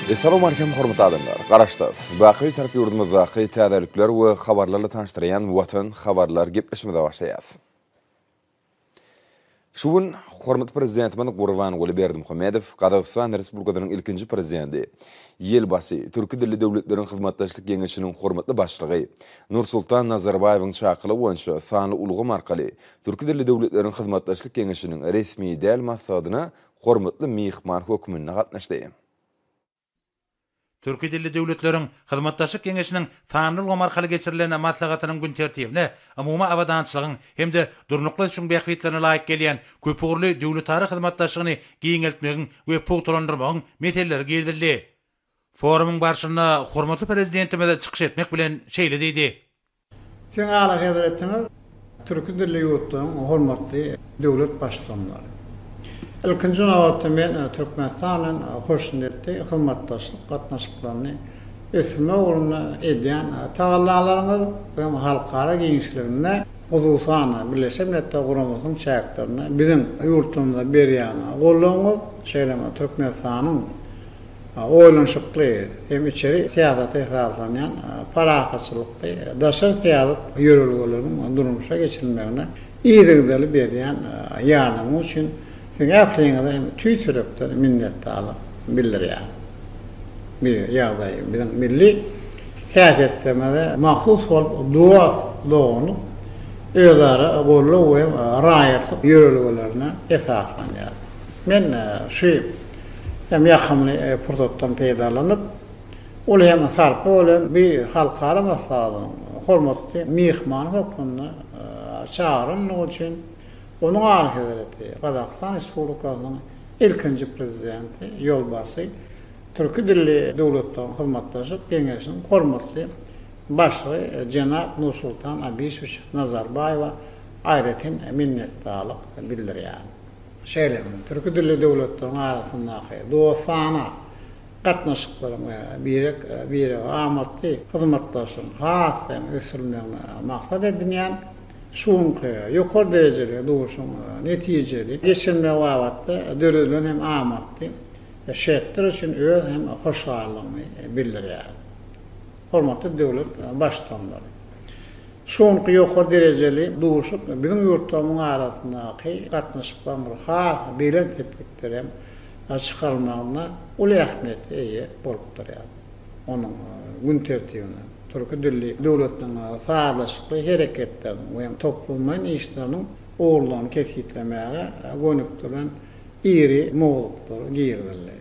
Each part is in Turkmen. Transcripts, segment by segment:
Essalawmalikim hormatly adamlar, garaşsyz, baky Bitarap ýurdumyzdaky täzelikler we habarlarla tanyşdyrýan Watan habarlar gepleşimize başlaýas. Şu gün hormatly Prezidentimiz Gurbanguly Berdimuhamedow Gazagystan Respublikasynyň ilkinji Prezidenti, Ýelbasy, Türki dilli döwletleriň hyzmatdaşlyk geňeşiniň hormatly başlygy Nursultan Nazarbaýewiň çakylygy boýunça sanly ulgam arkaly Türki dilli döwletleriň hyzmatdaşlyk geňeşiniň resmi däl maslahatyna hormatly myhman hökmünde gatnaşdy. Türki dilli döwletleriň Hyzmatdaşlyk geňeşiniň sanly ulgam arkaly geçirilen maslahatynyň gün tertibine umumy abadançylygyň hem-de durnukly ösüşiň bähbitlerine laýyk gelýän köpugurly döwletara hyzmatdaşlygyny giňeltmegiň we pugtalandyrmagyň meseleleri girizildi. Forumyň barşynda hormatly Prezidentimiz çykyş etmek bilen şeýle diýdi. Siziň Alyhezretiňiz türki dilli ýurtlaryň hormatly döwlet baştutanlary. Ilkinji nobatda men Türkmenistan bilen hoşniýetli hyzmatdaşlyk gatnaşyklaryny ösdürmek ugrunda edýän tagallalaryňyz we halkara giňişliginde, hususan-da, Birleşen Milletler Guramasynyň çäklerinde biziň ýurtlarymyza berýän goldawyňyz, şeýle hem Türkmenistanyň Oýlanyşykly hem içeri syýasata esaslanýan parahatçylykly daşary syýasat ýörelgeleriniň durmuşa geçirilmegine yzygiderli berýän ýardamyňyz üçin Siziň ähliňize hem tüýs ýürekden minnetdarlyk bildirýärin. Bu ýagdaý biziň milli häsiýetlerimize mahsus bolup, dost, doganlyk, özara goldaw we raýatlyk ýörelgelerine esaslanýar. Men şu. hem ýakymly pursatdan peýdalanyp, uly hem sarply bolan bu halkara maslahatynyň hormatly myhmany hökmünde çagyrylandygy üçin Onuň Alyhezreti Gazagystan Respublikasynyň ilkinji Prezidenti ýolbaşçy Türki dilli döwletleriň hyzmatdaşlyk geňeşiniň hormatly başlygy jenap Nursultan Abişowiç Nazarbaýewa aýratyn minnetdarlyk bildirýärin. Şeýle hem, türki dilli döwletleriň arasyndaky dostana gatnaşyklaryň we birek-birege amatly hyzmatdaşlygyň has hem ösdürilmegini maksat edinýän şu günki ýokary derejeli duşuň netijeli geçirilmegi babatda döredilen hem amatly şertler üçin öz hem hoşallygyny bildirýär. Hormatly döwlet Baştutanymyz şu günki ýokary derejeli duşuşyk biziň ýurtlarymyzyň arasyndaky gatnaşyklaryň bir has belent sepgitlere hem çykarylmagynda uly ähmiýete eýe bolup durýar. Onuň gün tertibine türki dilli döwletleň sazlaşykly hereketleriniň we toplumlaýyn işleriniň ugurlaryny kesgitlemäge gönükdirilen iri mowzuklar girizildi.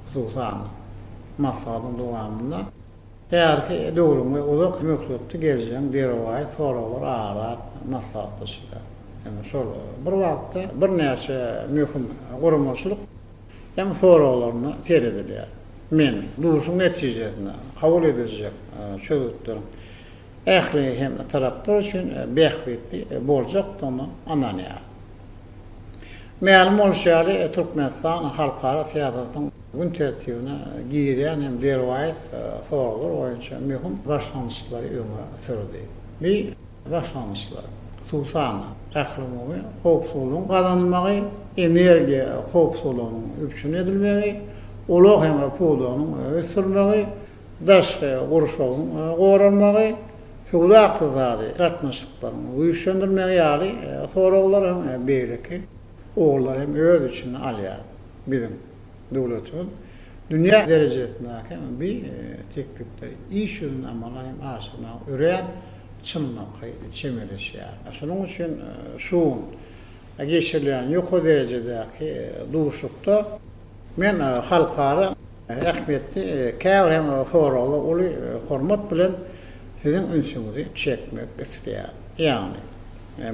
Hususan, maslahatyň dowamynda, Häzirki döwrüň we uzak möhletli geljegin derwaýys soraglar aýlap maslahatlaşylýar. Ýöne şol bir wagtda birnäçe möhüm guramaçylyk hem soraglaryna seredilýär. Men duşuşygyň netijesinde kabul ediljek çözgütleriň ähli hem taraplar üçin bähbitli boljakdygyna ynanýaryn. Mälim bolşy ýaly, Türkmenistan halkara syýasatyň gün tertibine girýän hem derwaýys soraglar boýunça möhüm başlangyçlary öňe sürdi. Bu başlangyçlar, hususan-da, ählumumy howpsuzlygyň gazanylmagy, energiýa howpsuzlygynyň üpjün edilmegi, ulag hem pudagynyň ösdürilmegi, daşky gurşawyň goralmagy, söwda-ykdysady gatnaşyklaryň güýçlendirmegi ýaly soraglar hem beýleki ugurlary hem öz içine alýar. Biziň döwletimiz dünýä derejesindäki hem bi teklipleri iş ýüzünde amala hem aşyrmaga örän çynlakaý çemeleşýär. Şonuň üçin şu gün geçirilýän ýokary derejedäki duşuşykda men halkara ähmiýetli käbir hem soraglara uly hormat bilen siziň ünsüňizi çekmek isleýärin. Ýagny,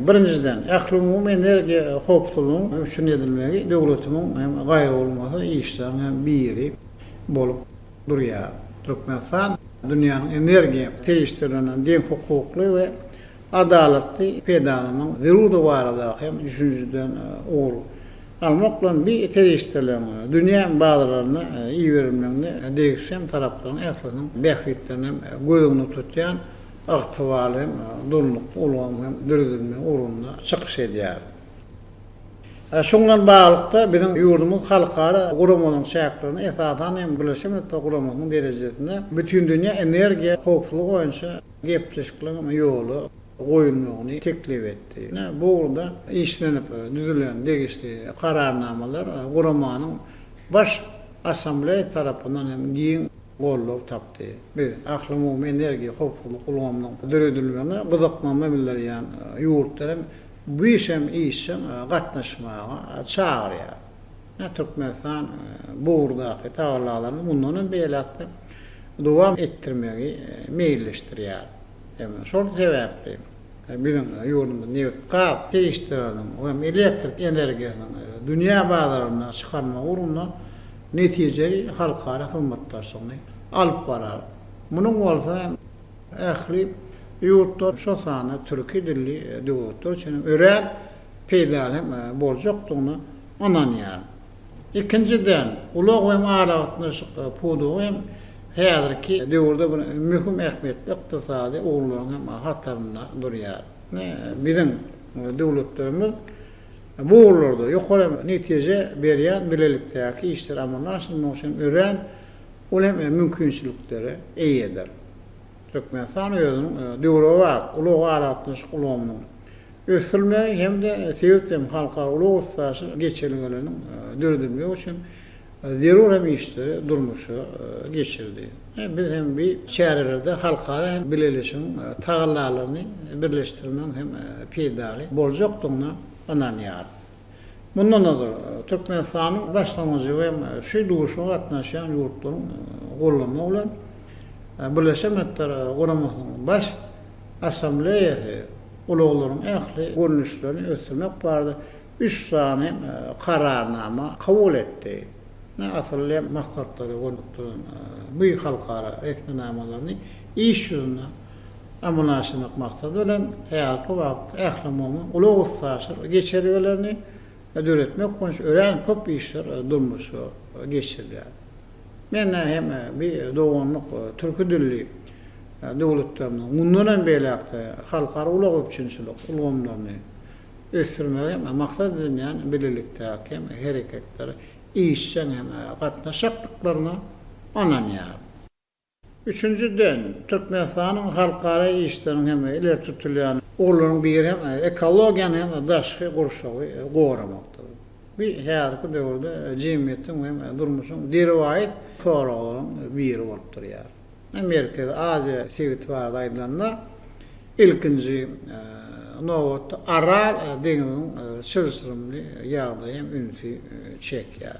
birinjiden, ählumumy energiýa howpsuzlygynyň üpjün edilmegi döwletimiň hem gaýraolmasa işleriň biri bolup durýar. Türkmenistan dünýäniň energiýa serişdelerine deňhukukly we Adalatly peýdalanyň zerurdygy barada hem düşünjeden ugur almak bilen bi serişdeleriň dünýä bazarlaryna iberilmeginde degişli hem taraplaryň ählisiniň bähbitlerini hem göz öňünde tutýan ygtybarly hem durnukly ulgamyň hem döredilmegi ugrunda çykyş edýär. Şuň bilen baglylykda, biziň ýurdumyz halkara guramalaryň çäklerinde, esasan hem, Birleşen Milletler Guramasynyň derejesinde Bütindünýä energiýa howpsuzlygy boýunça, gepleşikleriň ýola goýulmagyny teklip etdi. Bu ugurda işlenip düzülen degişli Kararnamalar Guramanyň Baş Assambleýasy tarapyndan hem giň goldaw tapdy. Biz Ählumumy energiýa howpsuzlyk ulgamynyň döredilmegine gyzyklanma bildirýän ýurtlary hem bu işe işjeň gatnaşmaga çagyrýarys. Ýa Türkmenistan bu ugurdaky tagallalaryny mundan hem beýläk-de dowam etdirmegi meýilleşdirýär. Şol sebäpli biziň ýurdumyz nebit-gaz serişdeleriniň we elektrik energiýasynyň dünýä bazaryna çykarmagy ugrunda netijeli halkara hyzmatdaşlygyny alyp barar. Munuň bolsa ähli ýurtlar, şol sanda türki dilli döwletler üçin hem örän peýdaly hem boljakdygyna ynanýaryn. Ikinjiden, ulag we aragatnaşyk pudagy hem häzirki döwürde bir möhüm ähmiýetli ykdysady ugurlaryň hem hatarynda durýar. Biziň döwletlerimiz bu ugurlarda ýokary netije berýän bilelikdäki işleri amala aşyrmak üçin örän uly hem mümkinçiliklere eýedir. Türkmenistan özüniň döwrebap ulag-aragatnaşyk ulgamynyň ösdürilmegi hem-de sebit hem halkara ulag-üstaşyr geçelgeleriniň döredilmegi üçin zerur hem işleri durmuşa geçirdi. Biz hem bi çärelerde halkara hem bileleşigiň tagallalaryny birleşdirmegiň hem peýdaly boljakdygyna ynanýarys. Mundan ozal, Türkmenistanyň Başlangyjy hem şu duşuşyga gatnaşýan ýurtlaryň goldamagy bilen, Birleşen Milletler Guramasynyň Baş Assambleýasy ulaglaryň ähli görnüşlerini ösdürmek barada üç sany Kararnama kabul etdi. Ine, asylly hem maksatlara gönükdirilen bu halkara resminamalaryny iş ýüzünde amallaşdyrmak maksady bilen, häzirki wagt ählumumy ulag-üstaşyr geçelgelerini döretmek boýunça örän köp işler durmuşa geçirilýär. Men hem bi doganlyk türki dilli döwletlerimiziň mundan hem beýläk-de halkara ulag üpjünçilik ulgamlaryny ösdürmegi hem maksat edinýän bilelikdäki hereketlere işjeň hem gatnaşjakdyklaryna ynanýaryn. Üçünjiden, Türkmenistanyň halkara işleriniň hem-de ileri tutulýan ugurlarynyň biri hem ekologiýany hem-de daşky gurşawy goramakdyr. Bu häzirki döwürde jemgyýetiň hem durmuşyň derwaýys soraglaryň biri bolup durýar. Merkezi Aziýa sebiti barada aýdylanda, ilkinji nobatda Aral deňziniň çylşyrymly ýagdaýy hem ünsi çekýär.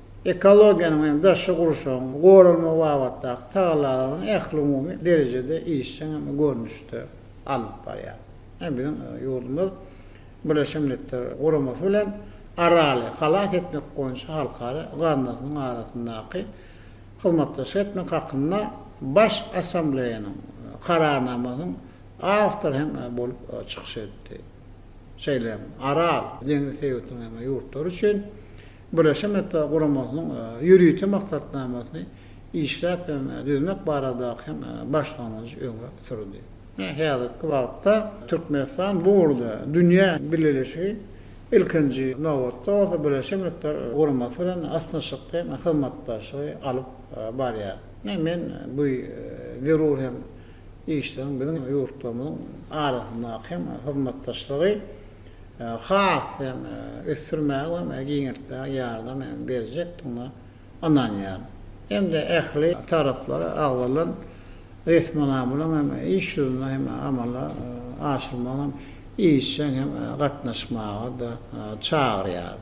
ekologiýanyň hem daşky gurşawyň goralmagy babatdaky tagallalaryny ählumumy derejede işjeň hem görnüşde alnyp barýar. Ine, biziň ýurdumyz Birleşen Milletler Guramasy bilen Araly halas etmek boýunça halkara gaznasynyň arasyndaky hyzmatdaşlyk etmek hakynda Baş Assambleýanyň Kararnamasynyň awtory hem bolup çykyş etdi. Şeýle hem Aral deňzi sebitiniň hem ýurtlary üçin Birleşen Milletler Guramasynyň ýörite maksatnamasyny işläp hem düzmek baradaky hem başlangyjy öňe sürdi. Häzirki wagtda Türkmenistan bu ugurda dünýä bileleşigi, ilkinji nobatda bolsa Birleşen Milletler Guramasy bilen ysnyşykly hem hyzmatdaşlygy alyp barýar. Men bu zerur hem işleriň biziň ýurtlarymyzyň arasyndaky hem hyzmatdaşlygy has hem ösdürmäge we muny giňeltmäge ýardam hem berjekdigine ynanýaryn hem-de ähli taraplara agzalan resminamalaryň hem iş ýüzünde hem amala aşyrmagyna hem işjeň hem gatnaşmaga-da çagyrýaryn.